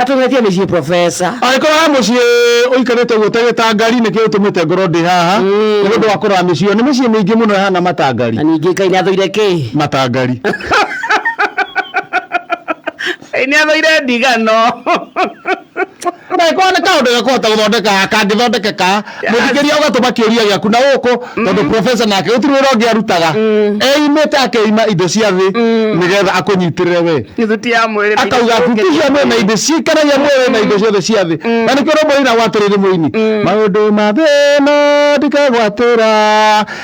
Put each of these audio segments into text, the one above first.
atũgetie mĩciĩ profesa angĩkorwo he mũciĩ ũikarĩte guo ta gĩtangari nĩkĩo ũtũmĩte ngoro ndĩ haha nĩ ũndũ wa kũrora mĩciĩ ĩyo nĩ mĩciĩ mĩingĩ mũno ĩhana matangari na ningĩ ngai nĩathũire kĩ matangari Ngai nĩathũire ndigano na ĩkorwo nĩ kaũndũ gakũhota gũthondeka kangĩthondekeka mũthikĩria ũgatũma kĩũria gĩaku na gũkũ mm. tondũ profesa nake gũtirĩ wĩra ũngĩ arutaga mm. eimĩte akeima indo cia thĩ mm. nĩgetha akũnyitĩrĩre we akauga tutihia mwĩ na indo ciikaragia mwĩrĩ na indo ciothe cia thĩ na nĩkĩo rũmũina gwatĩrĩrĩ mũini maũndũ ma thĩno ndikagwatĩra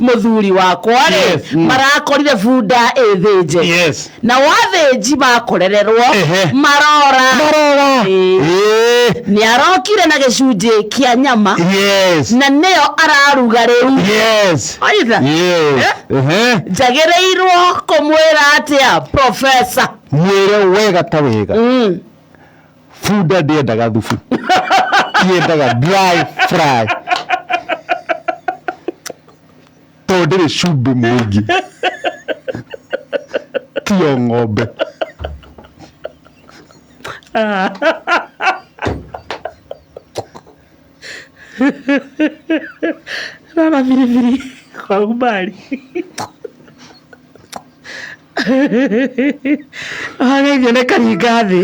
mũthuri wakwa rĩ Yes, mm. marakorire bunda ĩthĩnje Yes. na wathĩnji makorererwo Ehe. marora Marora. Ĩĩ. Eh, nĩ arokire na gĩcunjĩ kĩa nyama Yes. na nĩyo araruga rĩu Yes. Aitha. Yes. Eh? Ehe. njagĩrĩirwo kũmwĩra atĩa profesa Mwĩre wega ta wega. mm. Bunda ndĩendaga thubu. Yendaga dry fry. Tondũ ndĩrĩ cumbĩ mũingĩ. Tiyo ng'ombe. Rara biribiri kwa umbali. Ageithio nĩ Karingathĩ.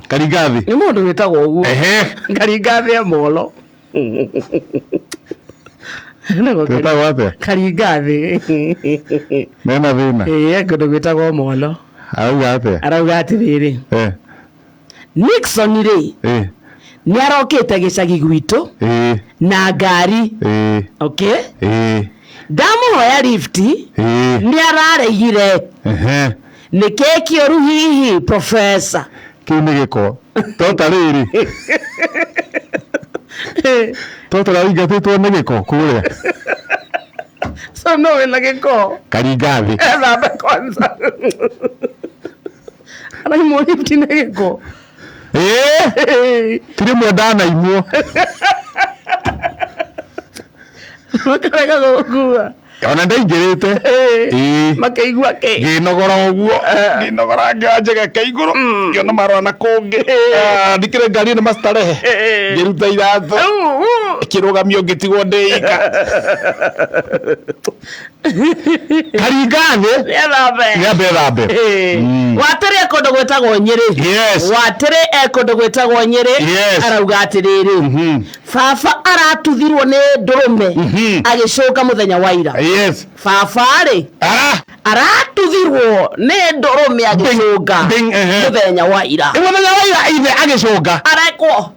Karingathĩ. Nĩ mũndũ wĩtagwo ũguo. Ehe. Karingathĩ e molo. Wĩtagwo atĩa? Karingathĩ. Mena thĩna. Ĩĩ, kũndũ gwĩtagwo molo. Arauga atĩa? Arauga atĩrĩrĩ. Eh. Nixon rĩ, Eh. nĩarokĩte gĩcagi gwitũ Eh. na ngari Eh. okay Eh. ndamũhoya lift Eh. nĩararegire Ehe. nĩ keki ũru hihi professor Kĩu nĩ gĩko. Tota rĩrĩ. Tota raingatĩtwo nĩ gĩko kũrĩa. so no wĩna gĩko Karingathĩ. ethambe kwanza araimwo lift nĩ gĩko ĩĩ ti rĩmwe ndanaimwo makarega gũkua ona ndaingĩrĩte ĩĩ makaigua kĩ ngĩnogora ũguo ngĩnogora ngĩanjaga ka igũrũ ngĩona marora na kũngĩ Ah, ndikĩrĩ ngari nĩ mastarehe Eh. ngĩruta iratũ Au, au. kĩrũgamio ngĩtigwo ndĩika karingathĩ Wĩthambe. nĩambe thambe Mm. watĩrĩ ekũndũ gwĩtagwo nyĩrĩ Yes. watĩrĩ ekũndũ gwĩtagwo nyĩrĩ Yes. arauga atĩrĩrĩ Mhm. baba aratuthirwo nĩ ndũrũme Mhm. agĩcũka mũthenya wa ira yes baba-rĩ Ah, aratuthirwo nĩ ndũrũme agĩcũnga Bing, ehe. mũthenya wa ira nĩ mũthenya wa ira ithe agĩcũnga arekwo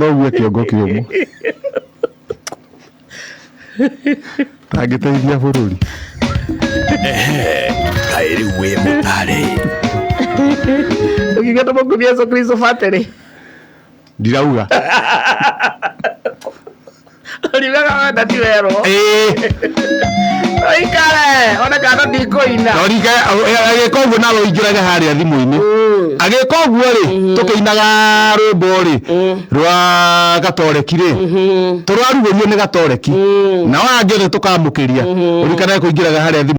thogua kĩongo kĩũmũ ndangĩteithia bũrũri kaĩ rĩu wĩ mũtarĩ ũkigata makuthi yesu kristo batĩrĩ ndirauga Ũriugaga wenda ti werwo. Ĩĩ. Ũikare, one kana ndikũina. Norike agĩka ũguo nawe ũingĩrage harĩa thimũ-inĩ agĩka ũguo rĩ tũkĩinaga rwĩmbo rĩ rwa gatoreki rĩ tũrarugũrio nĩ gatoreki nao angĩ othe tũkamũkĩria ũrikanae kũingĩraga harĩa thimũ